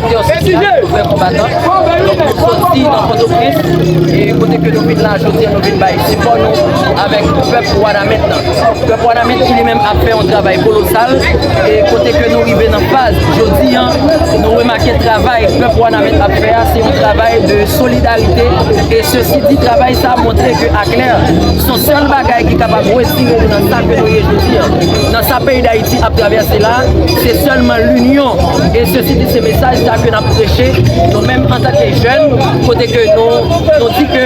Ki yon sitiyasyon pou fè konbatan. Donk nou soti nan Pòtoprens e kote ke nou vin la jodi an nou vin bay sipò nou avèk pèp Wanament lan. Pèp Wanament ki li menm ap fè yon travay kolosal e kote ke nou rive nan faz jodi an nou remake travay pèp Wanament ap fè a se yon travay de solidarite e sesi di travay sa montre ke aklè son sèl bagay ki kapab wetire nou nan sa ke nou ye jodi an. Sa peyi dayiti ap travèse la, se sèlman linyon e se si di se mesaj sa ke nap preche nou menm antan ke jèn kote ke nou di ke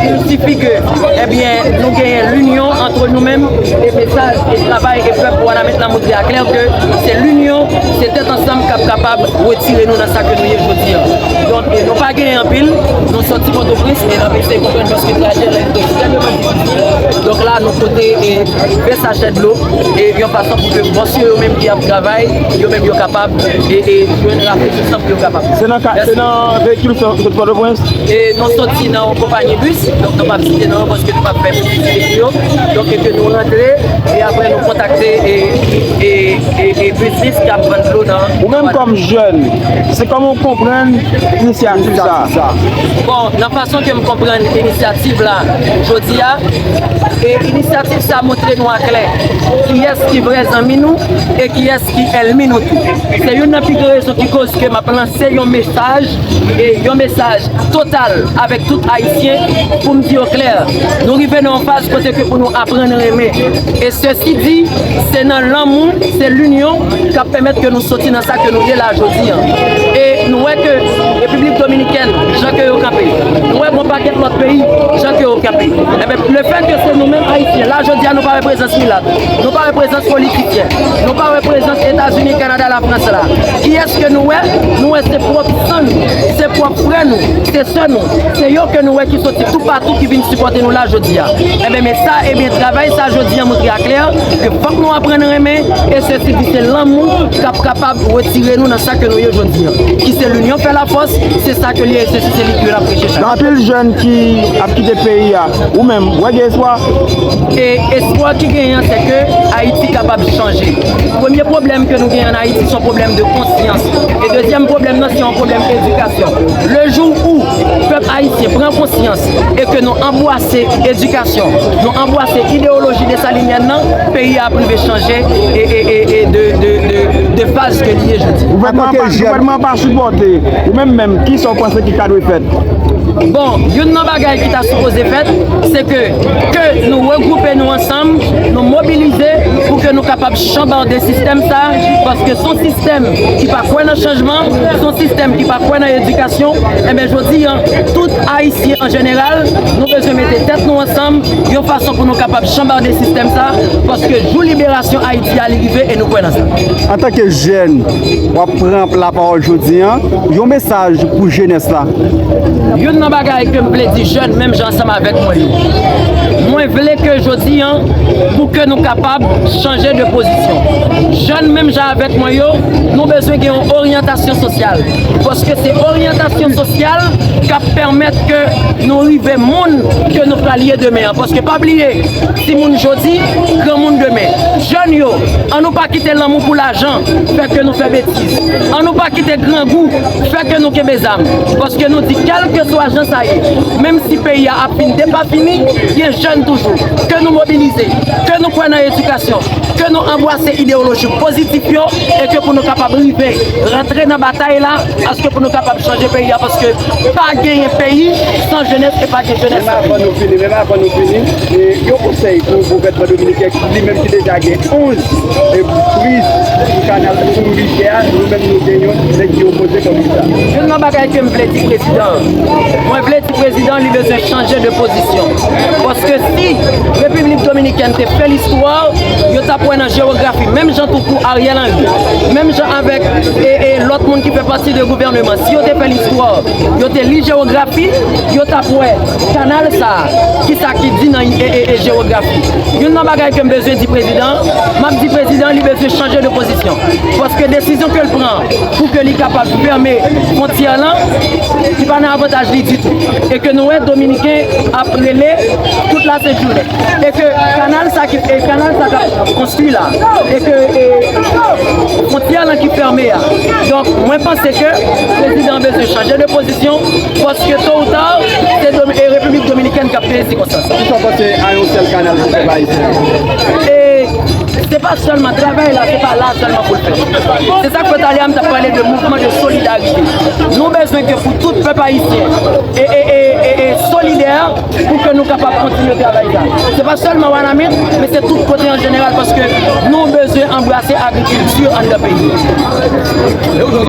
il sifi ke ebyen nou genyen linyon antre nou menm e mesaj e travay e pèp wanament la montre a klè ke se linyon se tèt ansanm kap kapab wetire nou nan sa ke nou ye jodi an. Donk nou pa genyen anpil nou soti potoprens e nap eseye konprann paske trajè la li te ekstrèmeman difisil. Donk la nou pote 20 sachè dlo yon fason pou ke bòs yo yo menm ki ap travay yo menm yo kapab jwenn rafrechi san pou yo kapab. Se nan veyikil ou soti Pòtoprens? Nou soti nan yon konpayi bis, donk nou pap site non yo paske nou pap fè piblisite pou yo, donk e ke nou rantre e apre nou kontakte bis ki ap vann dlo nan. Ou menm kòm jèn, se kòman ou konprann inisyativ sa a? Fason ke m konprann inisyativ la jodi a, e inisyativ sa montre nou a klè kiyès ki vrè zanmi nou e kiyès ki èlmi nou tou. Se youn nan pi gwo rezon ki koz ke m ap lanse yon mesaj, e yon mesaj total avèk tout Ayisyen pou m di yo klè, nou rive nan yon faz kote ke pou nou aprann renmen. E sesi di, se nan lanmou, se linyon k ap pèmèt ke nou soti nan sa ke nou ye la jodi a. E nou wè ke Repiblik Dominikèn. jan ke yo kanpe. Nou wè gon pakèt lòt peyi jan ke yo kanpe. Enben, le fèt ke se nou menm Ayisyen, la jodi a nou pa wè prezans milat, nou pa wè prezans politisyen, nou pa wè prezans Etazini, Kanada, Lafrans la. Kiyès ke nou wè? Nou wè se pwòp san nou, se pwòp frè nou, se sè nou, se yo ke nou wè ki soti toupatou ki vin sipòte nou la jodi a. Enben, men sa, enben, travay sa jodi a montre aklè ke fòk nou aprann renmen e se si pou se lanmou kap kapab retire nou nan. Sa ke nou ye jodi an. Ki se l'union fait la force, se sa ke li ye, se li ke l'ap preche chak jou. Gen anpil jèn ki ap kite peyi a. Ou menm, wè gen espwa? E espwa ki genyen an, se ke Ayiti kapab chanje. Premye pwoblèm ke nou genyen an Ayiti, se yon pwoblèm de konsyans. E dezyèm pwoblèm nan, se yon pwoblèm edikasyon. Le jou ou pèp ayisyen pran konsyans e ke nou anbwase edikasyon, nou anbwase ideyoloji Dessalinienne nan, peyi a ap rive chanje e de faz. ke li ye jodi. Gouvènman an pa sipòte. Ou menm menm, ki sa ou panse ki ta dwe fèt? Bon, youn nan bagay ki ta sipoze fèt, se ke, ke nou regwoupe nou ansanm, nou mobilize pou ke nou kapab chanbarde sistèm sa, paske son sistèm ki pa kwè nan chanjman, son sistèm ki pa kwè nan edikasyon, enben jodi an, tout Ayisyen an jeneral, nou bezwen mete tèt nou ansanm, yon fason pou nou kapab chanbarde sistèm sa, paske jou liberasyon Ayiti. Ki ale rive e nou kwè nan sa. Antanke jèn, w ap pran la pawòl jodi an, yon mesaj pou jenès la. Youn nan bagay ke m vle di jèn menm jan ansanm avèk mwen yo, mwen vle ke jodi an pou ke nou kapab chanje de pozisyon. Jèn menm jan avèk mwen yo, nou bezwen gen yon oryantasyon sosyal. Paske se oryantasyon sosyal k ap pèmèt ke nou rive moun ke nou pral ye demen an. Paske pa bliye. Timoun jodi, granmoun demen. Jèn yo, an nou pa kite lanmou pou lajan fè ke nou fè betiz. An nou pa kite grangou fè ke nou kenbe zam. Paske nou di kèlkeswa jan sa ye, menm si peyi a ap fin depafini, gen jèn toujou. Ke nou mobilize, ke nou kwè nan edikasyon, ke nou anbwase ideyoloji pozitif yo e ke pou nou kapab rive rantre nan batay la aske pou nou kapab chanje peyi a paske pa genyen peyi san jenès e pa gen jenès san peyi. E yon konsèy pou gouvènman dominiken ki li menm ki deja gen 11 priz pou kanal pou rivyè a nou menm nou gen yon nèg ki opoze kòm li sa. Youn nan bagay ke m vle di prezidan an, mwen vle di prezidan an li bezwen chanje de pozisyon. Paske si Repiblik Dominikèn te fè listwa, yo t ap wè nan jewografi menm jan tou kou Ariel Henry, menm jan avèk lòt moun ki fè pati de gouvèneman si yo te fè listwa, yo te li jewografi, Yo t ap wè kanal sa a, ki sa ki di nan ee jewografi. Youn nan bagay ke m bezwen di prezidan an, m ap di prezidan an li bezwen chanje de pozisyon. Paske desizyon ke l pran an, pou ke li kapab fèmen fwontyè lan, li pa nan avantaj li ditou. E ke nou wè dominiken ap rele tout la sent jounen. E ke kanal sa ki, e kanal sa k ap konstwi la, e ke fwontyè lan ki fèmen an. Donk mwen panse ke prezidan an bezwen chanje de pozisyon. eleksyon paske to ou ta se repiblik dominikèn kap peye sikonstans la. Kisa w panse a yon sèl kanal pou pèp ayisyen an? E se pa sèlman travay la se pa la sèlman pou l fèt. Se sak fè talè a m tap pale de mouvman de solidarite. Nou bezwen ke pou tout pèp ayisyen e solidè pou ke nou kapab kontinye travay sa. Se pa sèlman Wanament men se tout kote an jeneral paske nou bezwen anbrase agrikilti anndan peyi.